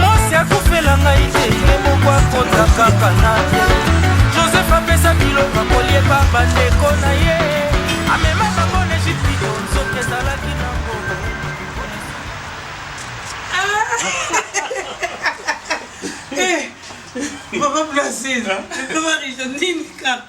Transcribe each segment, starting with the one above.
Mwasi akufela ngai te ye moko akonza kaka na ye Joseph apesa biloko kolieba bandeko na ye amema bango na Egypito nzoka ezalaki na ngolo Papa Placide, papa Richard, nini kaka?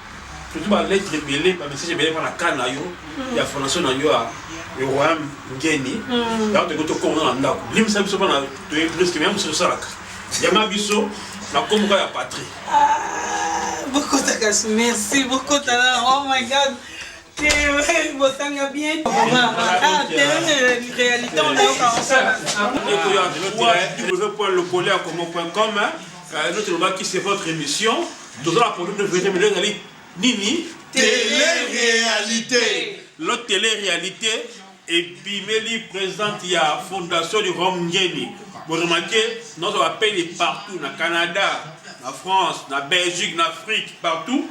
surtout ba lettre ebele ba message ebele mpa na cas na yo mm. ya fondation na yo ya royaume ngeni mm. yango tokoki tokongo na ndako limisa biso mpona toye briske mea mosusu tosalaka yama biso na komboka ya patrie ah, bokotaka merci bokotana oh my god bosanga bien réalité onayoka osala www.lokole ya komo.com notre lobaki c'est votre émission toza na produit de verite mais lelo ezali nini tele réalité lo tele réalité ebimeli présidente ya fondation du rome ngeni boremarke nazo bapeli partout na canada na france na belgique na afrique partout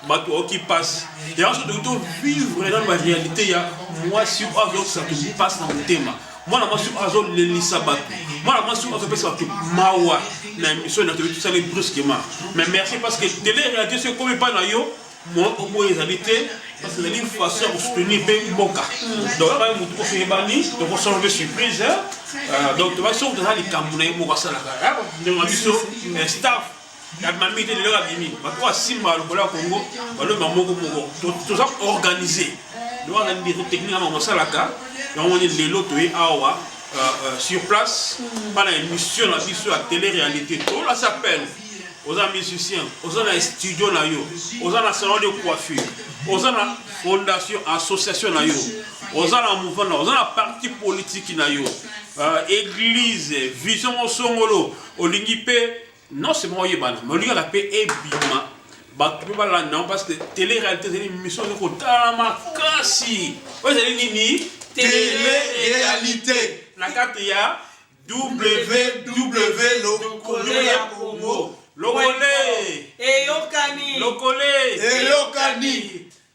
bato baoki mpasi yango so toki tovivre nano baréalité ya mwasi oyo azokisa toki mpasi na motema mwana mwasi oyo azolelisa bato mwana mwasi oyo azopesa bato mawa na émission na toyebi tosali brusquement mais merci parce que tele réalité so ekomi epai na yo mwa oboyo ezali te parce que ezali façon ya kosoutenir mpe mboka donc abaye motu koso eyebani tokosala mpe surprise euh, donc tobaki soki toza likambo na ye moko asalaka ndenge na biso staff abima mingi te lelo abimi bato basimba lokolo ya congo balomba moko moko toza organise lelo wana ndeko technique yango basalaka yango moni lelo toye awa euh, euh, sur place mpana mm. émission na biso ya télé réalité tolasi appel oza musicien oza na studio na yo oza na salon de coiffure oza na fondation association na yo oza na mouvement na oza na parti politiki na yo euh, église vision mosongolo olingi mpe Noce moko oyebana mais olingaka mpe ebima bato mpe balanda yango parce que tele réalité ezali mission ezali kotala makasi oyo ezali nini tele réalité na kati ya ww lokolo ya kongo lokole eyokani lokole eyokani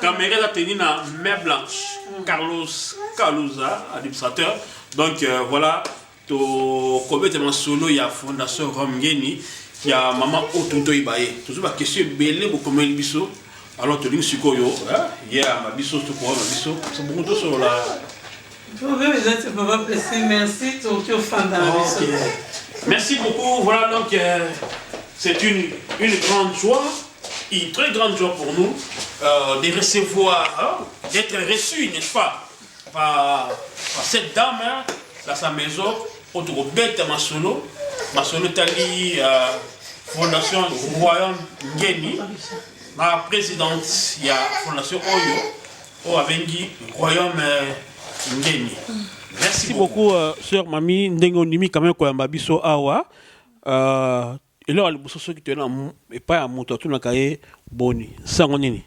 Kamere eza tenu na main blanche mm. Carlos Kaluza administrateur donc euh, voilà tokobeta masolo ya fondation Rome Ngeni ya mama oyo toki toyeba ye tozwi bakestion ebele bokomeli biso alors tolingi sikoyo ye yamba biso tokoyamba biso bongo tosolola Problème eza te papa pressé merci tokoki ofanda na biso. Merci beaucoup voilà donc euh, c'est une une grande joie une très grande joie pour nous euh, de recevoir hein, d'être reçu n'est-ce pas par, par cette dame hein, dans sa maison oyo tokobeta masolo masolo etali euh, fondation royaume ngeni na présidente ya fondation oyo oyo abengi royaume ngeni merci beaucoup euh, sœur mami ndenge ondimi quand même koyamba biso awa euh, eloko ya liboso soki toye na epai ya moto atunaka ye boni nsango nini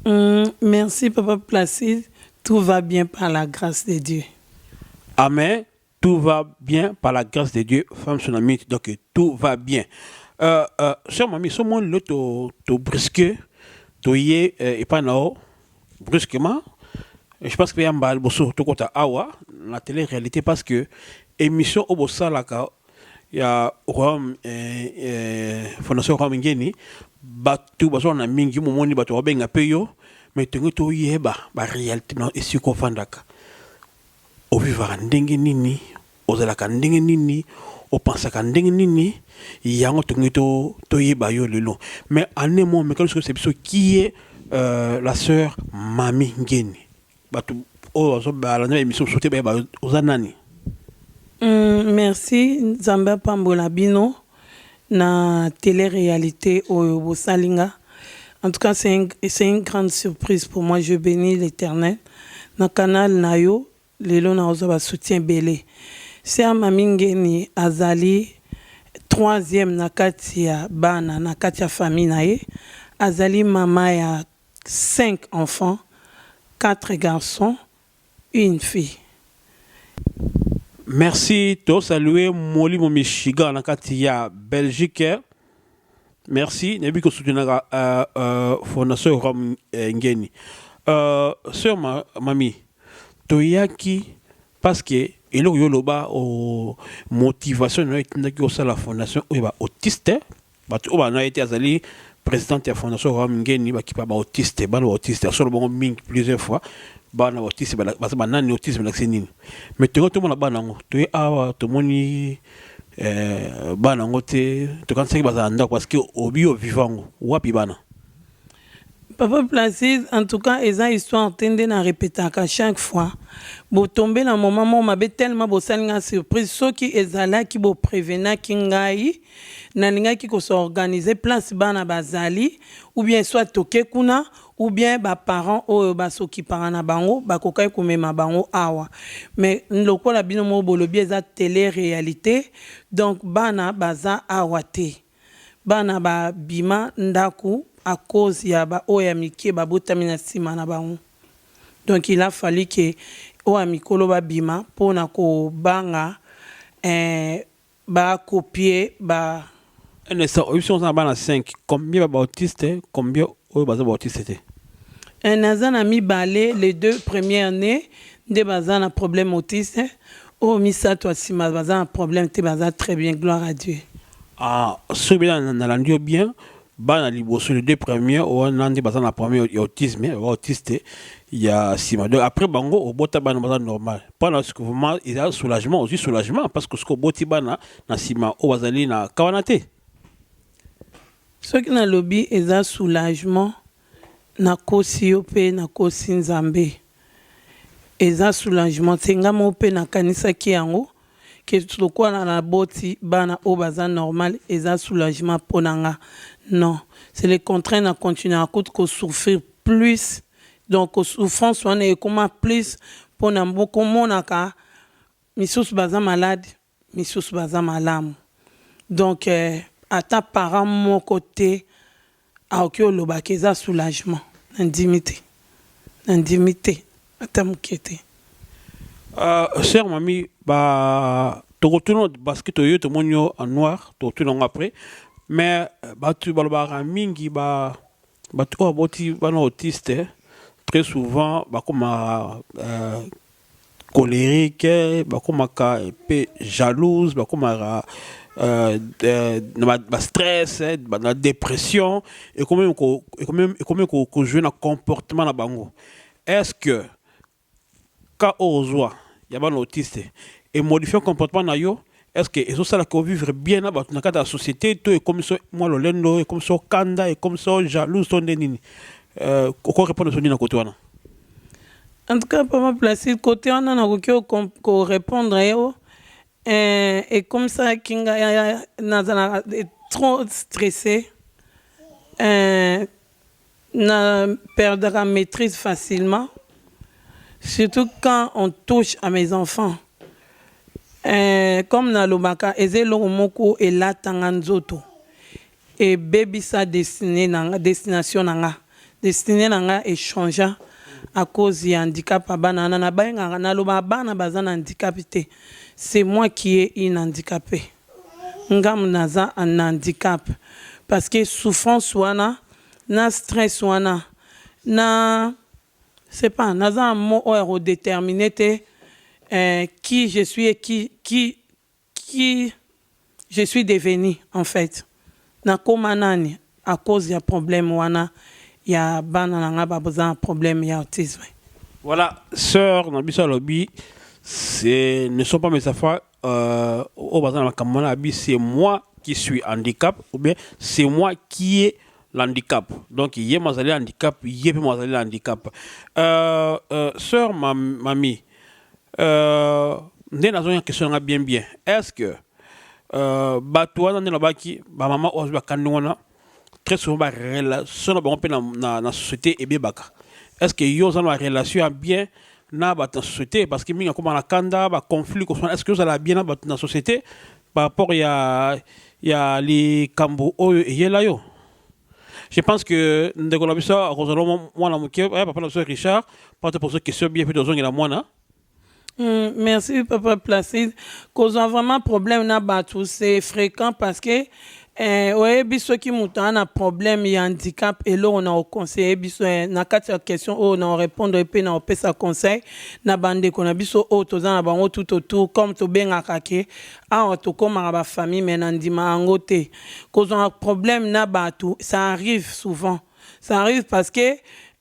mm, merci papa placide tout va bien par la grâce de dieu amen tout va bien par la grâce de Dieu femme tsunamite donc tout va bien euh, euh, sœur mami so moni lo to, to brusque toye euh, epai na yo brusquement je pense mpe ya mbala liboso tokota awa na tele réalité parce que émission oyo bosalaka ya royaume euh, euh, fondation royaume ngeni bato bazwaka na mingi momoni bato babenga mpe yo mais tongi toyeba baréalité na esika ofandaka O vivaka ndenge nini? O zalaka ndenge nini? O pensaka ndenge nini? Yango tolingi to to yeba yo lelo. Mais en un mot meka biso yebisa biso qui est euh, la sœur Mami Ngeni. Batu oyo bazo ba landa emission sote ba yeba oza nani? Hum, merci nzambe apambola bino na tele realite oyo bosali nga en tout cas c'est un c'est une grande surprise pour moi je benis l'Eternel na canal na yo lelo na ozwa ba soutien ebele sœur Mami Ngeni azali troisième na kati ya bana na kati ya famille na ye azali mama ya cinq enfants quatre garçons une fille. Merci to salue molimo michigan na kati ya belgique merci nayebi ko soutenaka euh, euh, fondation rom euh, ngeni euh, sœur ma, mami toyaki parce que eloko yo loba o oh, motivation na yo etindaki osala fondation oyo ba autiste Bato oyo balanda ye te azali presidente ya Fondation Royaume Ngeni bakipa ba autiste bana ba autiste asolo bango mingi plusieurs fois bana ba autiste baza banani autisme elakisi nini mais toyoi tomona bana yango toye awa tomoni eh, bana yango te tokanisaki bazala ndako parce que obi oviva yango wapi bana Papa Placide en tout cas eza histoire te nde na repetaka chaque fois bo tomber na moment moko mabe tellement bosali nga surprise soki ezalaki bo prevenaki ngai nalingaki ko se organiser place bana bazali ou bien soit toke kuna ou bien ba parents oyo ba s'occupaka na bango bakokaki komema bango awa mais lokola bino moko bolobi eza tele realite donc bana baza awa te. Bana ba bima ndaku a cause ya ba oyo ya mike ba botami na sima na bango donc il a fallu que oyo ya mikolo ba bima pona ko banga eh ba copier ba Innocent oyebisi nga oza na bana cinq combien ba bautistes combien Oyo baza bautiste te. Eh naza na mibale les deux premières nées nde baza na problème autiste oyo misato ya sima baza na problème te baza très bien gloire à Dieu. Ah soki bela nalandi yo bien bana liboso les deux premières wana nde baza na problème ya autisme ya autiste ya sima donc après bango obota bana baza normal mpona vraiment eza soulagement ozwi soulagement parce que soki oboti bana na sima oyo bazali na kawana te. Soki nalobi eza soulagement nakosi yo pe nakosi Nzambe. Eza soulagement te nga moko pe nakanisaki yango que lokola naboti bana oyo baza normal eza soulagement pona nga non c'est le contraire na continuaka kutu ko souffrir plus donc souffrance wana ekoma plus pona komonaka misusu baza malade. misusu baza malamu donc ata parent moko te akoki oloba ke eza soulagement nandimi te nandimi te ata muke te. Euh, sœur mamie, bah, tokotuna parce que toyo tomoni yo en noir, tokotuna yango après. Mais euh, batu balobaka mingi ba batu oyo aboti bana autiste très souvent bakoma euh, colerique bakomaka pe jalouse bakomaka euh, euh, na ba, ba stress eh, ba, na dépression ekomi ekomi ekomi ko, ko jouer na comportement na bango est-ce que ka ozwa ya bana autiste emodifie comportement na yo est ce que ezosala ko vivre bien na bato na kati ya société to ekomi so mwa lolendo ekomi so kanda ekomi so jalouse to nde nini euh, oko répondre so nini na kote wana en tout cas papa placide kote wana nakoki korépondre ye o euh, ekomisaki ngai nazalaka trop stressé euh, Na perdaka maitrise facilement surtout quand on touche à mes enfants euh, comme na lobaka eza eloko moko elata nga nzoto ebebisa destine na nga destination na nga destine na nga echangea à cause ya handicap ya bana wana na bengaka na lobaka bana baza na handicap te c'est moi qui est une handicapee. Ngam naza en handicap parce que souffrance wana na stress wana na sais pas naza na mot oyo ya ko determiner te qui je suis et qui qui qui je suis devenu en faite nakoma nani à cause ya problème wana ya bana na nga baza na problème ya autisme. Voilà soeur na biso alobi ce ne sont pas mes enfants euh, oyo baza na makambo wana abi c'est moi qui suis handicap ou bien c'est moi qui est l'handicap donc ye mo azali handicap ye mpe mo azali na handicap euh, euh, sœur mam, mami euh, nde nazongi na question nanga bien bien est ce que euh, bato wana nde nabaki bamama oyo azwi bakandi wana très souvent ba relation na bango mpe na, na, na société ebebaka est ce que yo oza na relation ya bien na bato na société parce que mingi akoma na kanda ba conflit kosana est ce que ozala bien na bato na société par rapport ya ya likambo oyo eyela yo je pense que ndeko na biso akozala mwana moke eh, papa na biso richard mpona toposo question bien mpe tozongela mwana Mm, merci papa Placide. Kozwa vraiment problème na bato c'est fréquent parce que eh, oyebi soki moto aza na problème ya handicap eloko na oconseille biso eh, na kati ya question oyo na orépondre mpe na opesa conseil na bandeko na biso oyo toza na bango tout autour comme tobengaka ke awa tokomaka bafamille me na ndima yango te kozwaka problème na bato ça arrive souvent Ça arrive parce que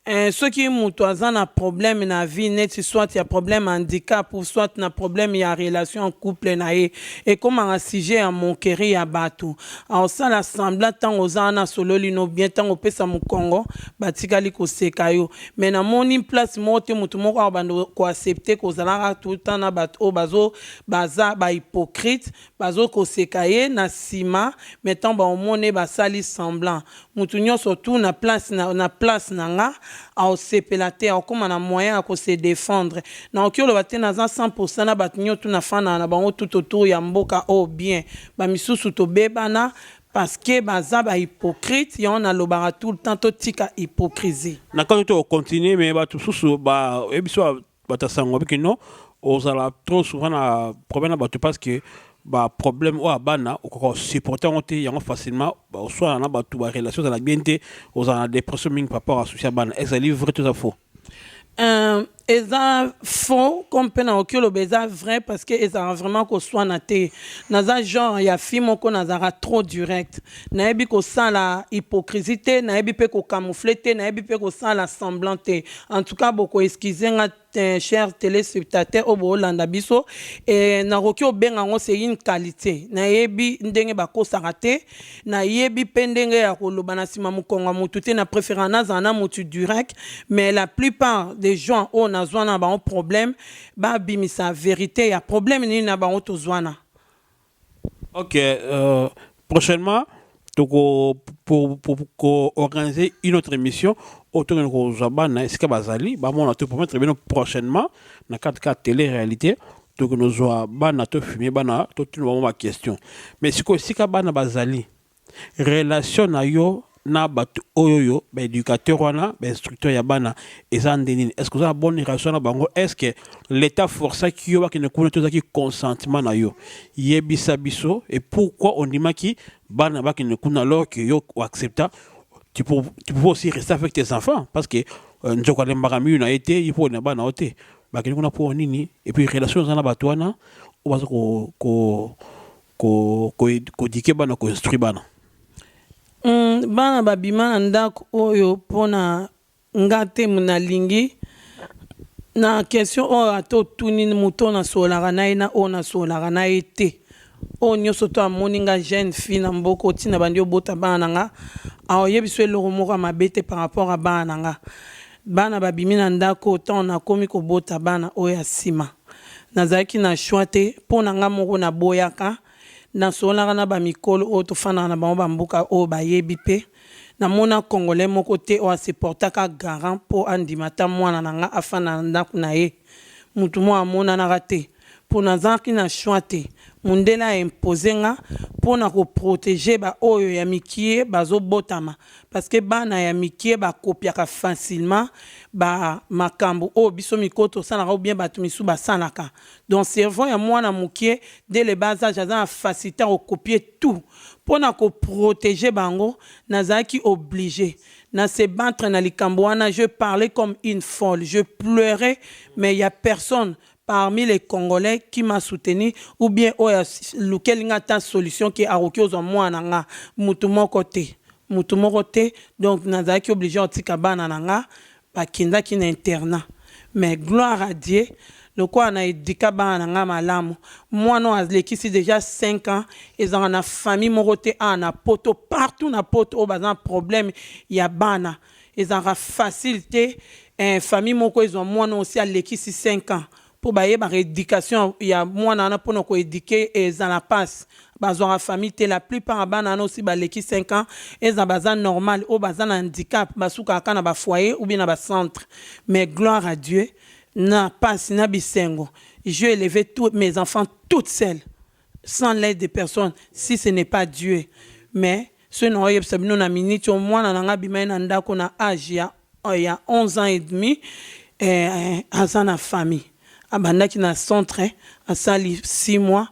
eh, soki moto aza na problème na vie neti soit ya problème ya handicap ou soit na problème ya relation en couple na ye ekomaka sujet ya monkeri ya bato aosala semblant ntango oza wana asololi no bien ntango opesa mokongo batikali koseka yo mais namoni place moko te moto moko akobanda koaccepte kozalaka tout le temps na bato oyo bazo baza bahypocrite Bazo koseka ye na sima mais tant ba omona ye ba sali semblant. Mutu nionso tout na place na na place na nga ao sepela te ao koma na moyen ya ko se defendre. Na oki oloba te naza 100 pour 100 na batu nionso tout na fandaka na bango tout autour ya mboka oyo bien. Ba misusu to bebana parce que baza ba hypocrite yango na lobaka tout le temps to tika hypocrisie. Na kati to ko continuer mais batu susu ba yebi biso ba bata sango biki non ozala trop souvent na problème na bato parce que ba problème oyo abana okoka osupporte yango te yango facilement oswana na bato ba relation ezala bien te ozala na dépression mingi par rapport à souci ya bana ezali vrai to eza faux Euh, eza faux comme mpe nakoki oloba eza vrai parce que ezalaka vraiment koswana te naza genre ya fille moko nazalaka trop direct Nayebi kosala hypocrisie te, nayebi pe ko camoufler te, nayebi pe kosala semblant te. En tout cas, boko excuser nga chers telespectateurs oyo boolanda biso et nakoki kobenga yango c'est une qualite. Nayebi ndenge bakosaka te, nayebi pe ndenge ya koloba na sima mokongo ya mutu te, na preferaka nazala na mutu direct, mais la plupart des gens oyo nazwana na bango problème, babimisa verite ya problème nini na bango tozwana. Ok euh, prochainement toko pour, pour, pour organiser une autre émission autour de kozwa bana esika bazali bamona to promettre bino prochainement na kati ka télé réalité tokoki nozwa bana to filme bana totuna bango baquestion mais sikoyo esika bana bazali Relation na yo na batu oyoyo ba educateur wana ba instructeur ya bana eza nde nini est ce que oza na bonne relation na bango est ce que l'etat forcaki yo bakende kuna to ezaki consentement na yo yebisa biso et pourquoi ondimaki bana bakende kuna alors que yo o accepta tu peux, tu peux aussi rester avec tes enfants parce que euh, nzoko alembaka miyu na ye te ye mpo na bana yo te bakende kuna mpo nini et puis relation eza na bato wana oyo baza ko, ko Ko ko ko eduquer bana ko instruire bana. Hum bana ba bima na ndaku oyo pona nga te na lingi na question oyo ata otuni mutu oyo na sololaka na ye na oyo na sololaka na ye te oyo nioso to amoni nga jeune fille na mboka oyo ti na bandi obota bana na nga akoyebisa yo eloko moko ya mabe te par rapport ya bana na nga Bana babimi na ndako oyo tango nakomi kobota bana oyo ya sima. Nazalaki na choix te, po na nga moko naboyaka, nasololaka na ba mikolo oyo tofandaka na bango ba mboka oyo bayebi pe namona congolais moko te oyo a se portaka garant po andima ata mwana na nga afanda na ndako na ye. Mutu moko amonanaka te. po nazangaki na choix te mundele a imposer nga pona ko proteger ba oyo ya mikie bazo botama parce que bana ya mikie ba copiaka facilement ba makambu oyo biso miko tosalaka ou bien batu misusu basalaka donc cerveau ya muana mukie de le bas age aza na facilite ya ko copier tout pona ko proteger bango nazalaki oblige na se battre na likambu wana je parlais comme une folle je pleurais mais ya personne parmi les congolais qui m'a soutenu ou bien oyo alukeli nga ata solution que akoki kozwa mwana na nga mutu moko te mutu moko te donc nazalaki oblige ya kotika bana na nga bakendaki na internat mais gloire à Dieu lokola na educa bana na nga malamu mwana oyo alekisi dejà cinq ans ezalaka na famille moko te awa na poto partout na poto oyo baza na problème ya bana ezalaka facile te eh famille moko ezwa muana oyo esi alekisi cinq ans po bayebaka education ya muana wana pona ko eduquer ye ezala pasi bazwaka famille te la plupart ya bana wana oyo esi baleki cinq ans ezala baza normal oyo baza na handicap basukaka kaka na ba foyer ou bien na ba centre mais gloire à Dieu na pasi na bisengo j'ai eleve tous mes enfants toute seule. sans l'aide de personne si ce n'est pas Dieu mais soki nako yebisa bino na minute oyo mwana na nga abima ye na ndako na age ya ya 11 ans et demi eh, aza na famille abandaki na centre asali 6 mois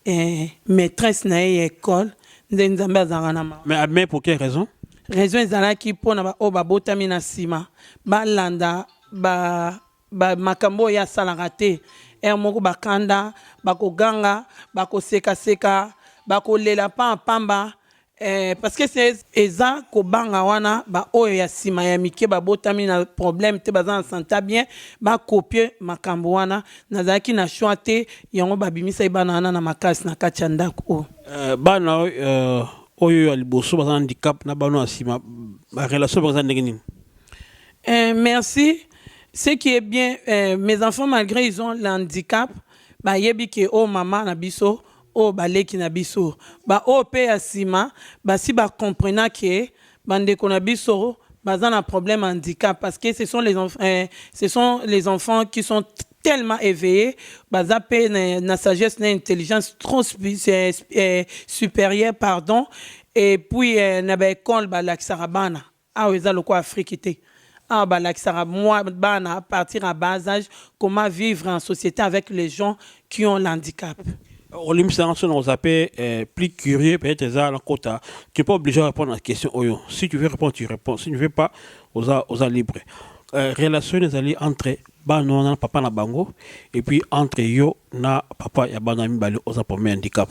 eh, maîtresse na ye ya école nde nzambe azalaka na mawa mais abimaki pour quelle raison raison ezalaki mpo na baoyo babotami na nsima balanda ba Ba makambo oyo ye asalaka te. Heure moko ba kanda, ba ko ganga, ba ko seka seka, ba ko lela pamba pamba eh, parce que c'est eza ko banga wana ba oyo ya sima ya mike ba botami na problème te baza na sante ya bien ba copier makambo wana. Nazalaki na choix te yango ba bimisaki bana wana na makasi na kati ya ndaku oyo. Eh, bana oyo eh, oyo ya liboso baza na handicap na bana ya sima ba relation baza ndenge nini? Eh, merci. Ce qui est bien, eh, mes enfants, malgré ils ont l'handicap, bah, yebi que oh maman na biso, oh baleki na biso, bah oh pe ya sima, bah si bah comprenant que bande qu'on a biso, bah un problème handicap parce que ce sont les enfants, eh, ce sont les enfants qui sont tellement éveillé baza mpe na, na sagesse na intelligence trop eh, eh, supérieure pardon et puis eh, na baekole balakisaka bana Awa eza lokola Afrique te. Awa balakisaka bana à partir ya bas age comment vivre en societe avec les gens qui ont l'handicap. Olimbisa nga soki nako zappe plus curieux peut etre eza na kota tu n'es pas oblige o repondre na question oyo si tu veux repondre tu reponds si tu ne veux pas oza oza libre relation nini ezali entre bana wana na papa na bango et puis entre yo na papa ya bana wana mibale oza problème ya handicap.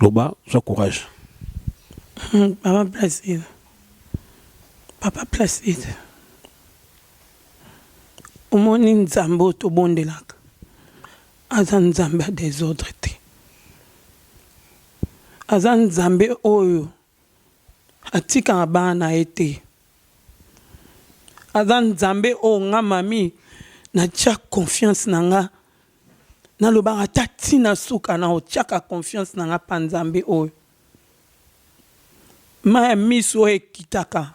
loba zwa courage hmm, papa placide papa placide omoni nzambe oyo tobondelaka aza nzambe ya desordre te aza nzambe oyo atikaka bana na ye te aza nzambe oyo nga mami natya confiance na nga Nalobaka ata ti na suka na otiaka confiance na nga pa nzambe oyo mayi ya misu oyo ekitaka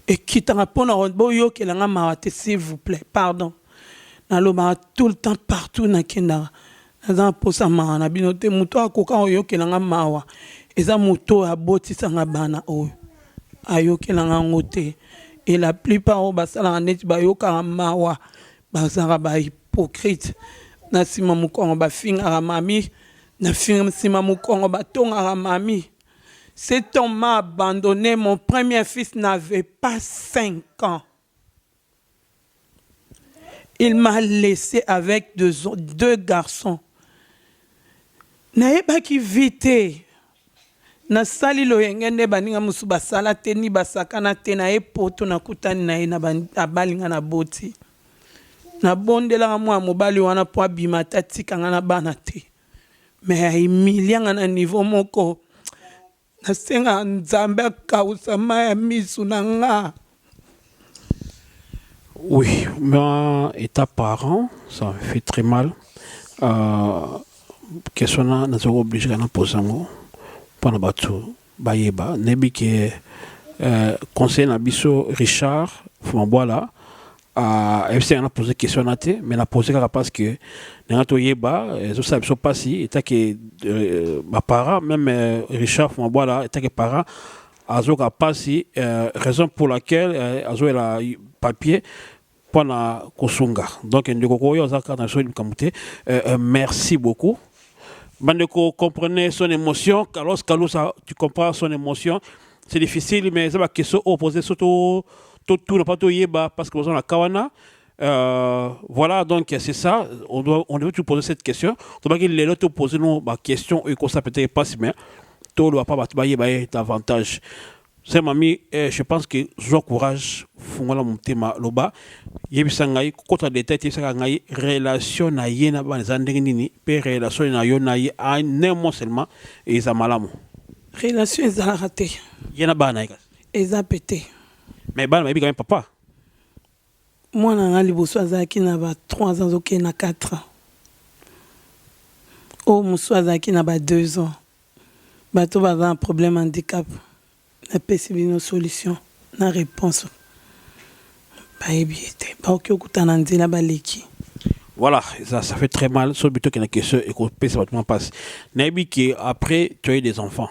ekitaka pona boyokela nga mawa te s'il vous plait pardon nalobaka tout le temps partout nakendaka naza na posa mawa na bino te moto oyo akoka koyokela nga mawa eza moto oyo abotisa nga bana oyo ayokela nga ngo te et la plupart oyo basalaka neti bayokaka mawa Bazalaka ba hypocrite na sima mukongo ba fingaka mami na sima mukongo ba tongaka mami cet homme m'a abandonne mon premier fils n'avait pas 5 ans il m'a laisse avec deux garçons nayebaki vie te Nasali loyenge nde baninga mosusu basala te ni basakana te na ye poto nakutani na ye na ba abali nga na boti na bondelaka mua mobali wana po abima ata atika nga na bana te mais a humilia nga na niveau moko nasengaka nzambe akawusa mayi ya misu na nga. Oui, moi, étant parent, ça me fait très mal. Euh, question na naza obligé na posa yango mpona bato bayeba nayebi ke euh, conseil na biso richard fumabwala ayebisi euh, nga na pose question na te mais na pose kaka parce que nanga toyeba ezosala biso mpasi etake euh, baparent même richard fumabwala etake parent azoka pasi euh, raison pour laquelle euh, azoyela papier mpo na kosunga donc ndeko koyo aza kaka na soi likambo te euh, euh, merci beaucoup bandeko comprenez son émotion carlos kalusa tu comprends son émotion c'est difficile mais eza bakestion oyo pose so totu na mpa toyeba parce que boza na ka wana Euh, voilà, donc c'est ça. On, doit, on devait toujours poser cette question. Donc, les autres poser nous ma question, et comme ça peut-être pas, mais tout le pas bailler davantage. C'est mamie, eh, je pense que je courage, fongola mon thème loba. Yebisa ngai, kota détail, yebisa ngai, relation na ye na ban zandenge nini, pe relation na yo na ye, a ne mo seulement, et za malamu. Relation est à rater. Yena ban na ye. Eza pété. Mais ban na ye, papa. Mwana na ngai liboso azalaki na ba trois ans azokende na quatre ans, oyo mosusu azalaki na ba deux ans. Bato baza na problème handicap napesi bino solution na reponse bayebi ye te bakoki okuta na nzela baleki. Voilà, ça, ça fait très mal. Sur le buto qui est question et qu'on peut se battre passe. Naibiki, après, tu as eu des enfants.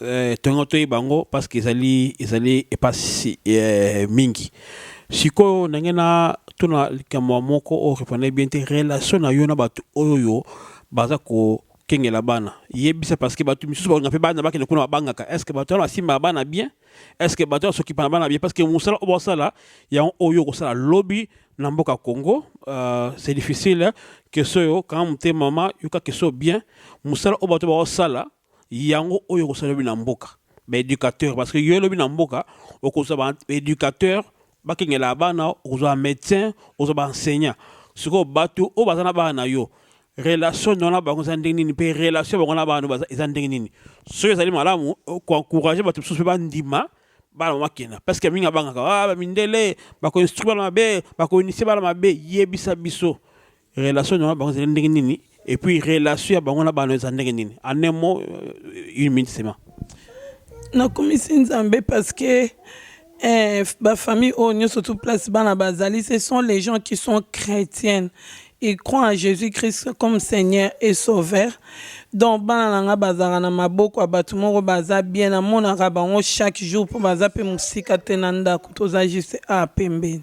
Eh, tongo toyeba yango parce que ezali ezali epasi eh, mingi sikoyo ndenge na tuna likambo moko oyo reprenai bien te relation na yo na bato oyo baza kokengela bana yebisa parce que bato misusu balinga mpe bana bakende kuna babangaka est ce que bato wana basimbaka bana bien est ce que bato wana sokipana bana bien parce que mosala oyo basala yango oyo okosala lobi na mboka congo uh, c'est difficile keso yo kanga motema mama yoka keso bien mosala oyo bato baosala Yango oyo okosa lobi na mboka ba educateur parce que yo lobi na mboka okozwa ba educateur bakengelaka bana okozwa ba medecin okozwa ba enseignant sikoyo bato oyo baza na bana na yo relation na yo na bango eza ndenge nini mpe relation bango na bana baza eza ndenge nini soki ezali malamu koencourage bato mosusu mpe bandima bana bakenda parce que mingi abangaka ah, bamindele bakoinstruire bana mabe bakoinisie bana mabe yebisa biso Relation na bango ezali ndenge nini et puis relation ya bango na bana eza ndenge nini en un mot euh, une minute seulement nakumisi nzambe parce que eh, bafamille oyo nyonso tout place bana bazali ce sont les gens qui sont chrétiennes ils croient en jésus christ comme seigneur et sauveur donc bana na ngai bazalaka na maboko ya bato moko baza bien namonaka bango chaque jour mpo baza mpe mosika te na ndako toza juste a pembeni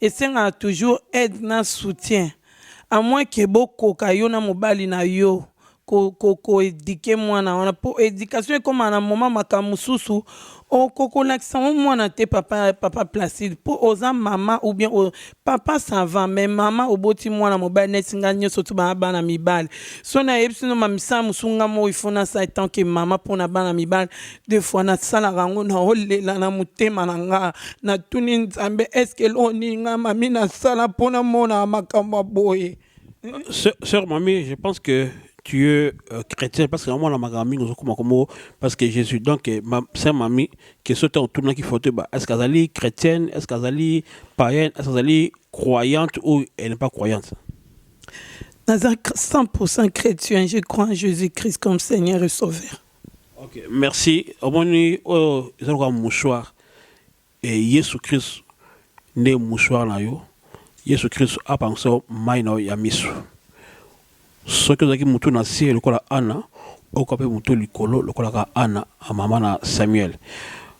esengaka toujours aide na soutien à moins que bokoka yo na mobali na yo ko ko ko eduquer mwana wana po education ekoma na moment makambo mosusu okokolakisa yango mwana te papa papa placide po oza mama ou bien o, papa ça va mais mama oboti mwana mobali neti ngai nyonso tu bana bana mibali so nayebisi no mamisala mosusu ngai moko ifo nasala tant que mama mpo na bana mibali de fois nasalaka yango naolela na motema na nga natuni nzambe eske eloko nini nga mami nasala mpo namona makambo ya boye Sœur, sœur Mamie, je pense que tu es euh, chrétien parce que moi la magami nous comme comme parce que Jésus donc eh, ma sœur Mamie qui saute en tournant qui faute bah est-ce qu'elle est chrétienne est-ce qu'elle est païenne est-ce qu'elle est croyante ou elle n'est pas croyante naza 100% chrétien je crois en jésus-christ comme seigneur et sauveur Ok, merci. Omoni oyo eza lokola mouchoir. E Yesu Kristu nde mouchoir na yo. Yesu Kristu apangwisa yo mai na yo ya miso. Soki ozalaki motu na se lokola Ana, okoka mpe motu likolo lokolaka Ana, mama na Samuel.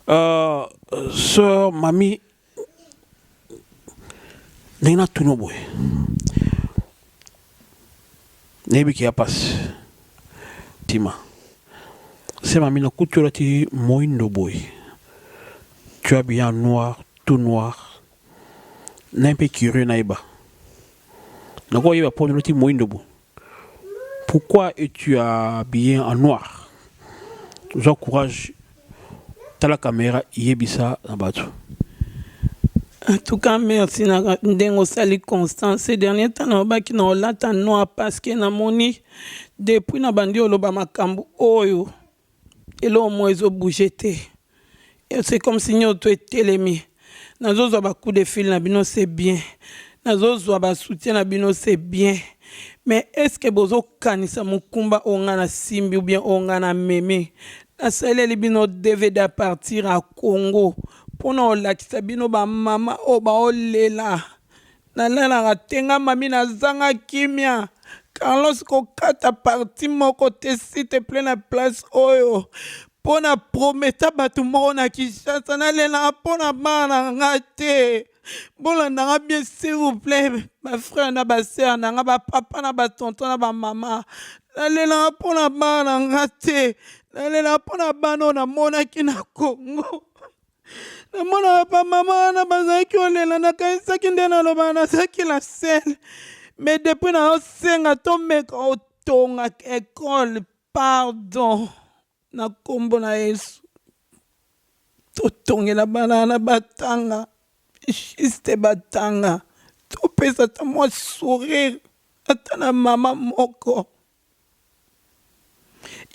Uh, sœur Mami, ndenge natuna boye nayebi ke ya mpasi tima sema mina kutu olati moindo boye tu as bien noir tout noir naye mpe curieux nayeba nakoyeba mpo olati moindo boye Pourquoi es tu habillé en noir? Zwa courage tala camera yebisa na batu. En tout cas merci na ndenge osali constant ces derniers temps nalobaki na olata noir parce que namoni depuis na bandi oloba makambo oyo eloko moko ezo bouger te et c'est comme si nionso tout etelemi nazo zwa ba coup de fil na bino c'est bien nazo zwa ba soutien na bino c'est bien mais est ce que bozo kanisa mokumba oyo nga na simbi ou bien oyo nga na memi na saleli bino dvd à partir à Congo pona olakisa bino ba mama oyo baolela Nalalaka te nga mami nazanga kimia. Carlos kokata partie moko te s'il te plaît na place oyo mpo na prometa bato moko na Kinshasa nalelaka mpo na bana na nga te bolanda nga bien s'il vous plaît ba frère na ba sœur na nga ba papa na ba tonton na ba mama nalelaka mpo na bana na nga te nalelaka mpo na bana oyo namonaki na Congo namona bamama wana bazalaki olela nakanisaki nde naloba nazalaki na sele me depuis naosenga tomeka otonga ekole pardon na nkombo na yesu totongela bana na batanga juste batanga topesa ata mwa sourire ata na mama moko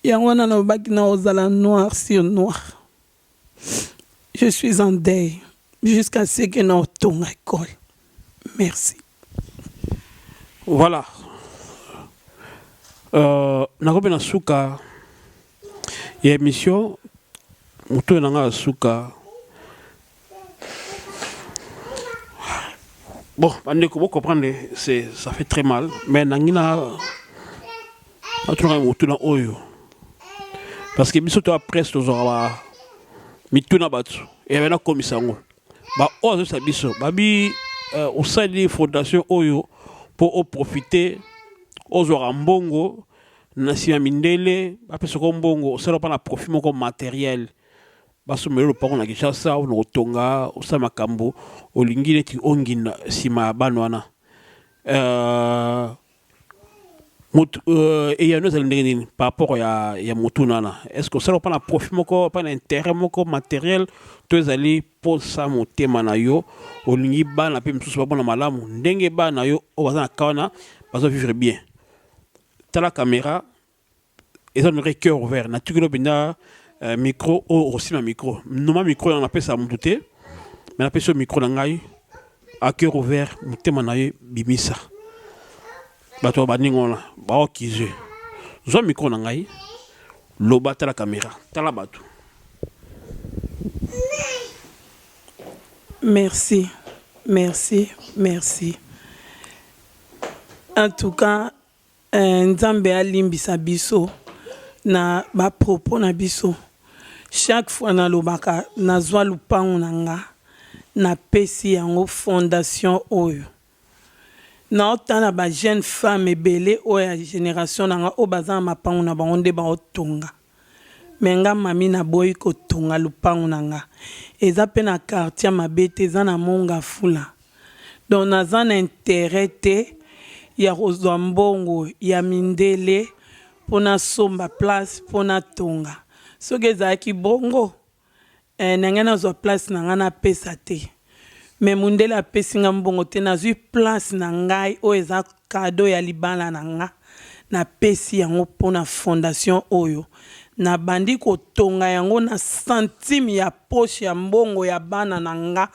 Yango wana nalobaki nakozala noir sur noir. Je suis en deuil jusqu'à ce que naotonga ekole. Merci. Voilà. Euh, nakomi na suka ya emission moto na nga suka bon bandeko bo comprendre c'est ça fait très mal mais nangi na atunaka motu na oyo parce que biso toa presse tozwaka ba mitu na bato eyabe nakomisa yango baoyo azobisa biso babi euh, osali fondation oyo mpo oprofite ozwaka mbongo na sima mindele bapesa ko mbongo osala mpa na profit moko materiel basomela lopango na kinshasa ona kotonga osala makambo olingi neti ongina nsima ya bana wana euh, motu euh, eyano ezali ndenge nini par rapport ya, ya motuna wana est ce que osala mpa na profit moko mpa na intérêt moko materiel to ezali mposa motema na yo olingi bana mpe mosusu bamona malamu ndenge bana yo oyo baza na ka wana bazo vivre bien tala camera eza nore cœur ouvert na tukilo mpenza euh, micro oyo okosima micro noma micro yango napesa motu te me napesi yo micro na ngai a cœur ouvert motema na ye bimisa bato ya baninga wana baokize zwa micro na ngai loba tala kamera tala bato merci merci merci En tout cas eh, Nzambe alimbisa biso na ba propos na biso. Chaque fois nalobaka nazwa lupango na nga napesi yango fondation oyo naotala ba jeune femme ebele oyo ya generation na nga oyo baza na mapango na bango nde baotonga Mais nga mami na boyi ko tonga lupangu na nga eza pe na quartier ya mabe te eza na mont ngafula donc naza na interet te ya ko zua mbongo ya mindele po na somba place po na tonga soki ezalaki bongo Eh na ngai nazwa place na ngai na pesa te mais mundele apesi ngai mbongo te nazwi place na ngai oyo eza cadeau ya libala na nga na pesi yango pona fondation oyo na bandi kotonga yango na centime ya poche ya mbongo ya bana na nga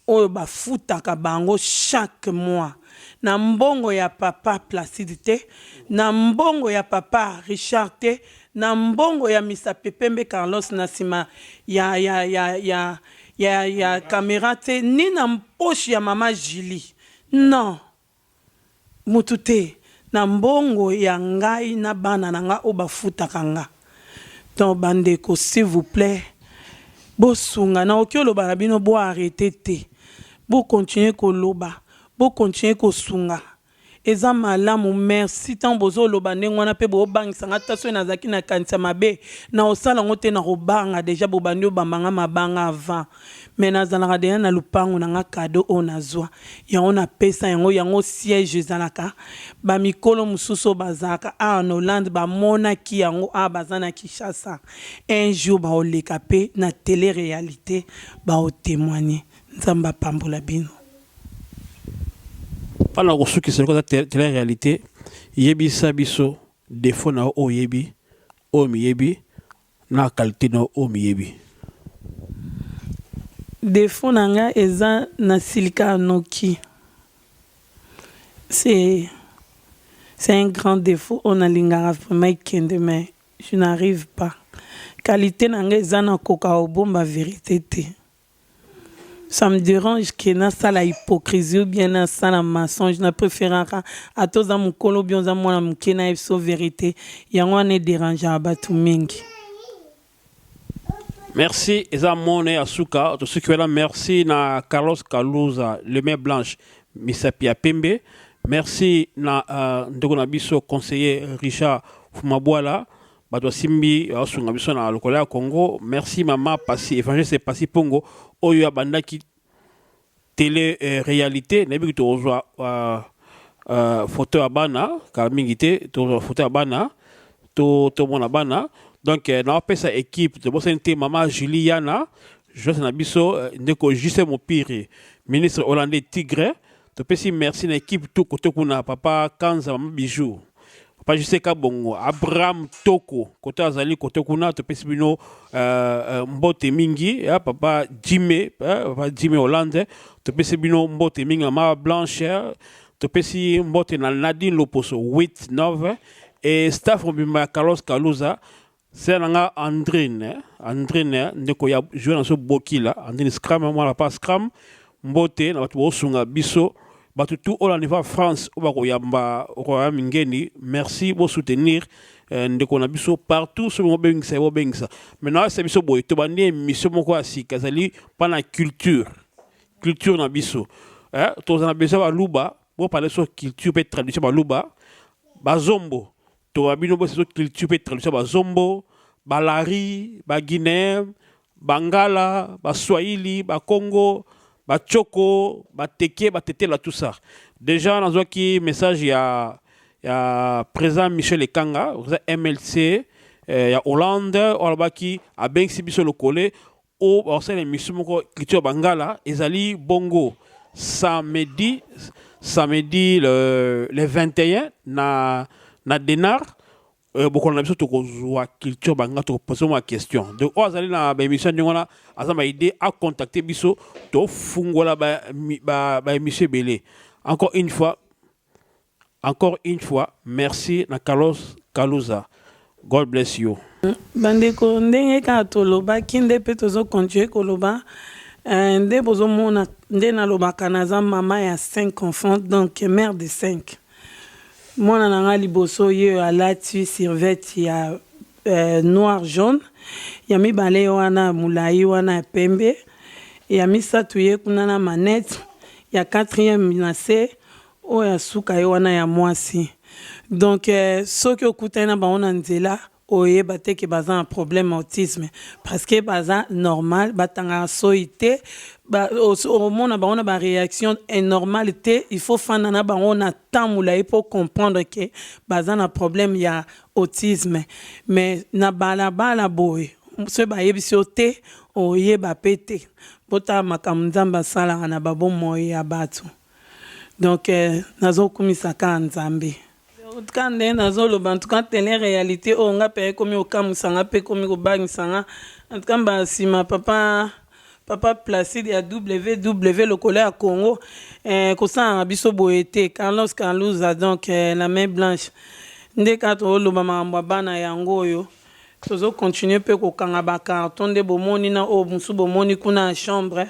oyo bafutaka bango chaque mois na mbongo ya papa placide te na mbongo ya papa Richard te Na mbongo ya misape pembe Carlos na sima ya ya ya ya ya ya camera tse ni na poche ya mama Julie non mutu te na mbongo ya ngai na bana na nga oyo ba futaka nga donc ba ndeko s'il vous plait bo sunga na oki oloba na bino bo arreter te bo continuer ko loba bo continuer ko sunga Eza malamu merci tango bozo loba ndenge wana pe bo bangisa nga ata soki nazalaki na kanisi ya mabe nako sala ngo te nako banga dejà bo bandi obamba nga mabanga avant mais nazalaka dejà na lupangu na nga cadeau oyo nazua yango na pesa yango yango siège ezalaka ba mikolo mususu oyo bazalaka awa na Hollande ba monaki yango awa baza na Kinshasa un jour bako leka pe na tele realite bako temoigner nzambe apambola bino. mpo na kosukisa lokola tele realite yebisa biso defo na yo oyo oyebi oyo miyebi na qualité na yo oyo miyebi defo na nga eza na silika noki c'est c'est un grand défaut oyo nalingaka vraiment ekende mais je n'arrive pas qualité na nga eza na koka kobomba verite te ça me dérange que nasala hypocrisie ou bien nasala mensonge na préféraka ata oza mokolo bien oza mwana moke na biso verité yango wana ederangea bato mingi merci eza mone ya suka tosuki wana merci na carlos kaluza le main blanche misapi ya pembe merci na uh, ndeko na biso conseiller richard fumabwala bato basimbi basunga biso na lokola ya congo merci mama pasi évangéliste pasi mpongo oyo abandaki tele euh, réalité nayebi ke tokozwa euh, euh, foto ya bana kala mingi te tokozwa foto ya bana tomona to bana donc euh, naopesa équipe tobosani te mama julie yana joyce na biso euh, ndeko juste mopiri ministre hollandais tigre topesi merci na ekipe to kote kuna papa kanza mama bijou papa jose kabongo abraham toko kote azali kote kuna topesi bino uh, uh, mbote mingi ya papa jime uh, papa jime hollande topesi bino mbote mingi mama blanche topesi mbote na nadine loposo 8 9 e staff mobimba ya carlos kaluza Sœur na nga Andrine, Andrine ndeko ya joueur na biso Bokila, Andrine Scram, mwana papa Scram, mbote na bato bosunga biso, bato tout oyo na niveau ya France oyo bakoyamba Royaume Ngeni, merci bo soutenir eh, ndeko na biso partout soki bobengisa ye bobengisa. Mais nayebisa biso boye tobandi emission moko ya sika ezali mpa na culture, culture na biso eh, tozala na besoin baluba bo parler sur culture mpe tradition baluba bazombo To ba bino bo sezo culture pe traduction ba zombo, ba lari, ba guineen, ba ngala, ba swahili, ba kongo, ba tchoko, ba teke, ba tetela tout ça. Deja nazwaki message ya ya president Michel Ekanga, president MLC eh, ya Hollande, oyo alobaki abengisi biso lokole oyo bakosalela emission moko culture ya bangala ezali bongo samedi samedi le, le 21 na na denar euh, bokola na biso tokozwa culture bangala tokopose mwa question donc oyo azali na baémission ndenge wana aza na idée acontacte biso tofungola baémission ba, ba ebele encore une fois Encore une fois merci na Carlos Kaluza God bless you. Bandeko ndenge kaka tolobaki nde mpe tozo continuer koloba eh, nde bozomona nde nalobaka naza mama ya 5 enfants donc mère de 5 mwana na ngai liboso ye alati survete ya eh, noir jaune ya mibale wana molai wana ya pembe ya misato ye kuna na manette ya quatrième na se Oyo ya suka ye wana ya mwasi donc soki okutani na bango na nzela oyeba te ke baza na problème autisme parce que baza normal batangaka soyi te ba omona bango na ba reaction est normal te il faut fanda na bango na temps mulayi po comprendre ke baza na problème ya autisme mais na bala bala boye soki bayebisi yo te oyeba pe te botala makambo nzambe asalaka na ba bomoi ya batu. Donc nazo kumisa ka nzambe. Ka nde nazo loba en tout cas tele realite oyo nga pe ekomi kokamwisa nga pe ekomi kobangisa nga en tout cas mba sima papa papa Placide ya WW lokolo ya Congo eh, kosalaka biso boye te Carlos Carluza donc eh, la main blanche nde kaka toloba makambo ya bana yango oyo Tozo continuer pe ko kanga ba cartons nde bo moni na oyo mosusu bo moni kuna ya chambre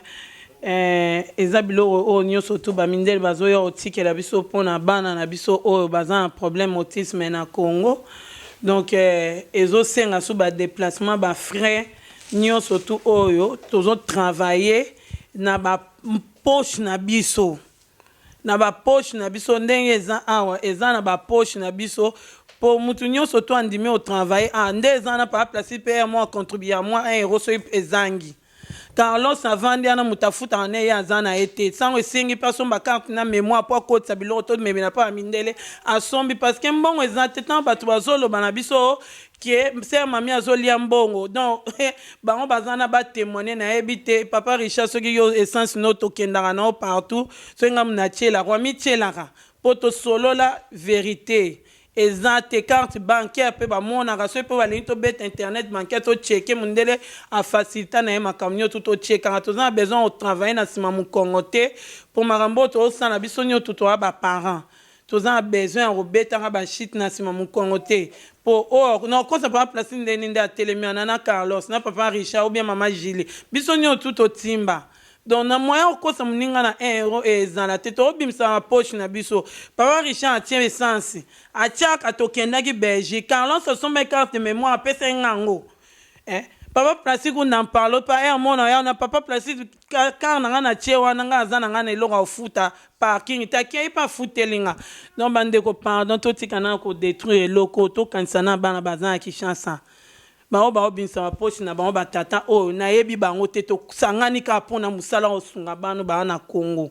eh eza biloko oyo nioso tout ba mindele bazo ya ko tikela biso pona bana na biso oyo baza na problème autisme na Congo donc eh ezo senga su ba deplacement ba frais nioso tout oyo tozo travailler na ba poche na biso na ba poche na biso ndenge eza awa eza na ba poche na biso po mutu nionso to andimi o travailler awa nde eza wana papa placide pe ye moko a contribuer mua un euro soki ezangi Carlos avandi wana mutu afutaka ne ye aza na ye te sango esengi pe asomba carte na memoire po akotisa biloko to memela pa ba mindele asombi parce que mbongo eza te tango batu bazoloba na biso que sœur mamie azolia mbongo donc bango baza wana ba témoigner nayebi te papa richard soki yo essence no tokendaka na yo partout soki ngai natyelaka wamityelaka mpo tosolola verité eza te carte bancaire mpe bamonaka soki mpe balingi tobeta internet bancaire totyeke mondele afacilita na ye makambo nyonso totyekaka toza na besoin otravaille na nsima mokongo te mpo makambo oyo tosala biso nyonso toa baparent Toza na besoin ya kobetaka ba chute na sima mukongo te po or na okosa papa placide ndenge nini nde atelemi wana na carlos na papa richard ou bien mama julie biso nioso tout totimba donc na moyen ya kokosa muninga na un euro e ezala te toko bimisa ba poche na biso papa richard atie essence atiaka tokendaki belgique carlos asombaki carte de memoire apesaki nga yango eh papa placide n'en parle pas heure mona ya na papa placide Car car na nga na tie wana nga aza na nga na eloko ya kofuta parking te akia ye pe afuteli nga donc ba ndeko pardon totika na ko detruire eloko tokanisa na bana baza na Kinshasa bango bao bimisa ba poche na bango ba tata oyo na yebi bango te tosangani kaka pona musala osunga bano baa na Congo.